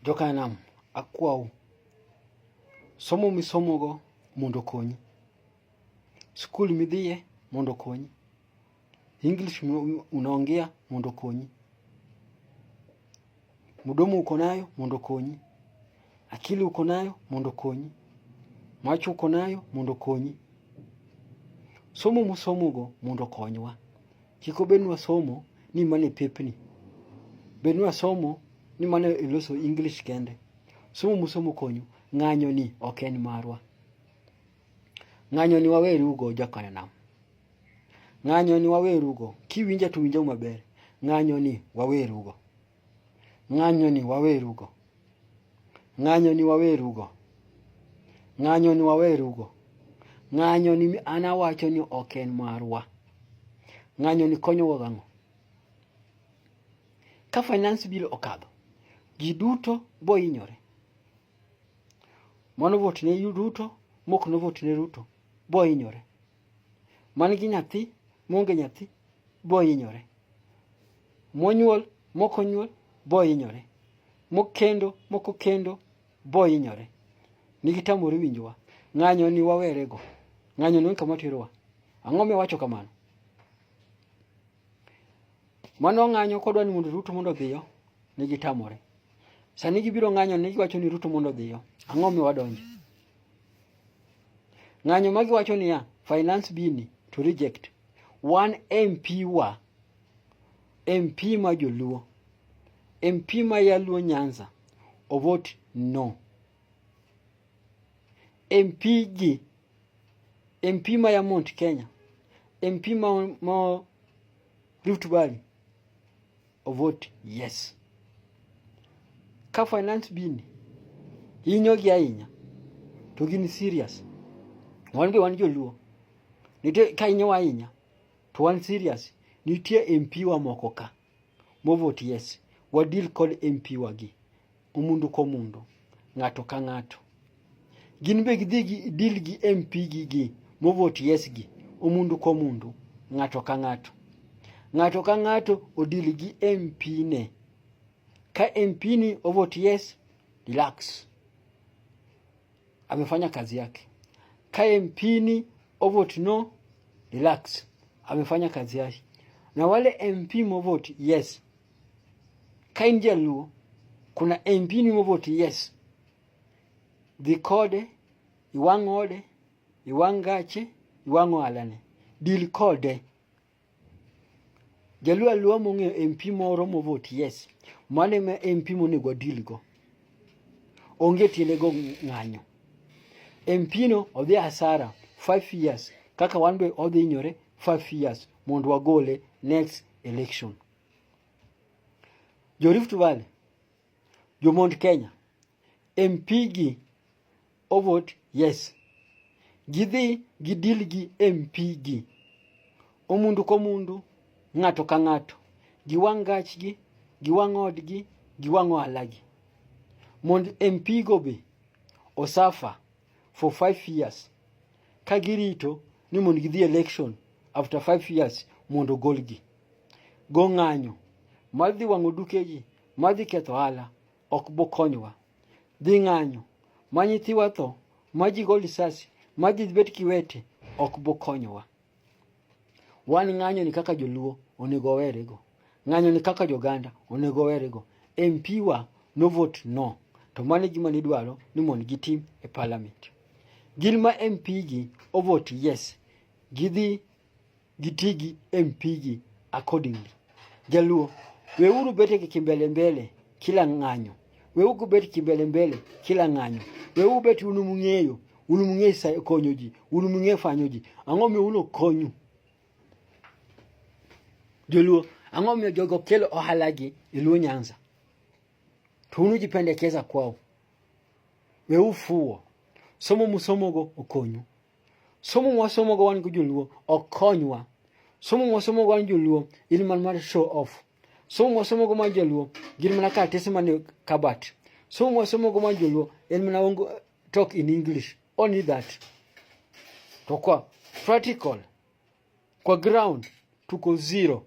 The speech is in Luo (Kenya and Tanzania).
Jokanam, akwau, somo misomogo mondo okonyi. Skul midhiye mondo okonyi. English unaongea mondo okonyi. Mdomo uko nayo mondo okonyi. Akili uko nayo mondo okonyi. Macho uko nayo mondo okonyi. Somo musomogo mondo okonywa. Kik obed ni wasomo ni mano e pepni. Bed ni wasomo ni mano e loso English kende. Somo musomo konyu. Ng'anyo ni ok en marwa. Ng'anyo ni waweru go jakanyo nam. Ng'anyo ni waweru go. Kiwinja to winja maber. Ng'anyo ni waweru go. Ng'anyo ni wawerugo. Ng'anyo ni wawerugo. Ng'anyo ni wawerugo. Ng'anyo ni an awacho ni ok en marwa. Ng'anyo ni konyowa gang'o? Ka finance bill okadho, ji duto bo inyore. Mano vote ne Ruto, mok no vote ne Ruto, bo inyore. man gi nyathi monge nyathi bohinyore monyuol mokonyuol bohinyore mokendo mokokendo bohinyore nigitamore winjowa ng'anyo ni wawerego ng'anyo ni kama terowa ang'o miwacho kamano mano ng'anyo kodwa ni mondo ruto mondo odhiyo nigitamore sani gibiro ng'anyo ni giwacho ni ruto mondo odhiyo ang'o miwadonje Ng'anyo ma giwacho niya, finance bini to reject. Wan MP wa, MP ma joluo, MP ma yaluo Nyanza, ovot no. MP ji, MP ma ya Mount Kenya, MP ma, ma Rift Valley or vote yes. Ka finance bill hinyogi ahinya to gin serious. Wan be wan joluo. Nitie ka hinyowa ahinya to wan serious. Nitie MP wa moko ka mo vote yes. Wadil kod MP wagi. Omundo ka omundo, ng'ato ka ng'ato. Gin be gidhi gi deal gi MP gi gi movot yes gi omundo ka omundo, ng'ato ka ng'ato. Ng'ato ka ng'ato odil gi MP ne. Ka MP ni ovot yes, relax. Amefanya kazi yake. Ka MP ni ovot no, relax. Amefanya kazi yake. Na wale MP movot yes Ka in jaluo, kuna MP ni moboti yes. Dhi kode, iwang' ode, iwang' gache, iwang' ohalane. Dil kode. Jaluo aluo mong'eyo MP moro moboti yes. Mano ema MP monego wadil go. Onge tiende go ng'anyo. MP no odhi asara 5 years kaka wan be odhi nyore 5 years mondo wagole next election. jo Rift Valley, jo Mount Kenya, MP gi ovot yes, gidhi gidil gi MP gi omundu komundu, ng'ato ka ng'ato, giwang' gachgi, giwang' odgi, giwang' ohalagi mond MP go be osafa for five years ka girito ni mondo gidhi election after five years mondo ogolgi. go ng'anyo mar dhi wang'o dukegi mar dhi ketho ohala ok bokonywa. Dhi ng'anyo ma nyithiwa tho ma ji go lisasi ma ji bet kiwete ok bokonywa. Wan ng'anyoni kaka joluo onego owerego. Ng'anyoni kaka joganda onego owerego. MP wa no vote no to mano e gima nidwaro ni mondo gitim e parliament. Gin ma MP gi o vote yes gidhi giti gi MP gi accordingly. Jaluo, weuru bete gi kimbele mbele kila ng'anyo. Weuru bet kimbele mbele kila ng'anyo. Weuru bet unu mung'eyo, unu mung'eyo sa konyo ji, unu mung'eyo fanyo ji. Ang'o mi ulo konyu? Jaluo, ang'o mi jogo kelo ohala gi e Luo Nyanza? To unu jipendekeza kwao. Weuru fuwo. Somo musomogo okonyu. somo mwasomo go wan go joluo ok konywa somo mwasomo go wan joluo in man mar show off somo mwasomo go man joluo gin mana karatese mane kabat somo mwasomo go man joluo en mana ongo talk in english only that to kwa practical kwa ground tuko zero